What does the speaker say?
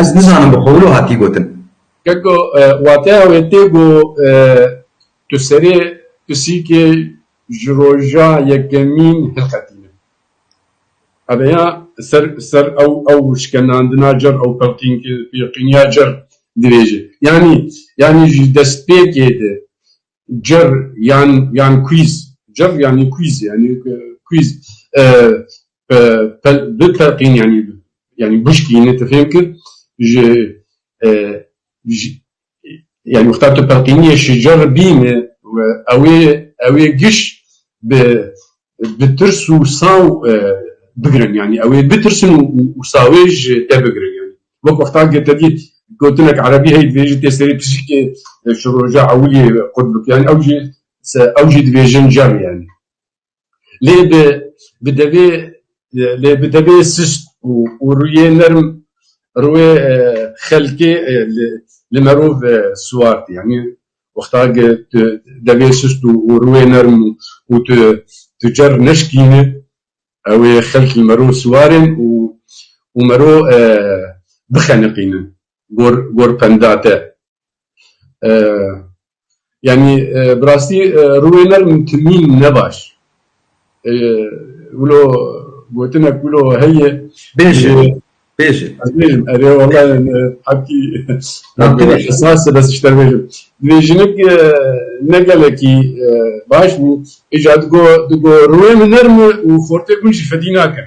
Ez nizanim bi xwe wilo hatî gotin. Keko wateya wê tê ku tu serê pisîkê ji roja yekemîn hilqetîne. Ebe ya ser ser ew ew şikenandina cir ew pilqînkiya cir dibêje. Yanî yanî ji destpêkê de cir yan yan kwîz cir yanî kwîz yanî kwîz bi telqîn yanî yanî bişkînî tu fêm kir ji yanî wexta tu telqîniyê şicer bîne û ewê ewê giş bi Bi tirs û saw bigirin yanî ew ê bitirsin û sawê ji te bigirin yanî wek wexta ke te dît gotinek erebî heye divê jî tê serê pişikê şiroja ewilî qut bike yanî ew jî ew jî divê jin cer yanî lê bi bi devê lê bi devê sist û rûyê nerm rûyê xelkê li li merov siwar tê yanî Wexta ke tu devê sust û rûyê nerm û tu tu cer neşikînî ew ê xelk li mero siwarên û û mero bixeniqînin gor gor penda te. Yanî birastî rûyê nerm timîn ne baş. Wilo gotinek wilo heye. Bêje, bêje. Ez bêjim, erê wala hakî esas e bes ji te bêjim. Divê jinik ne gelekî baş bû, îja digo digo rûyê min nerm e û xortê gund jî fedî nakin.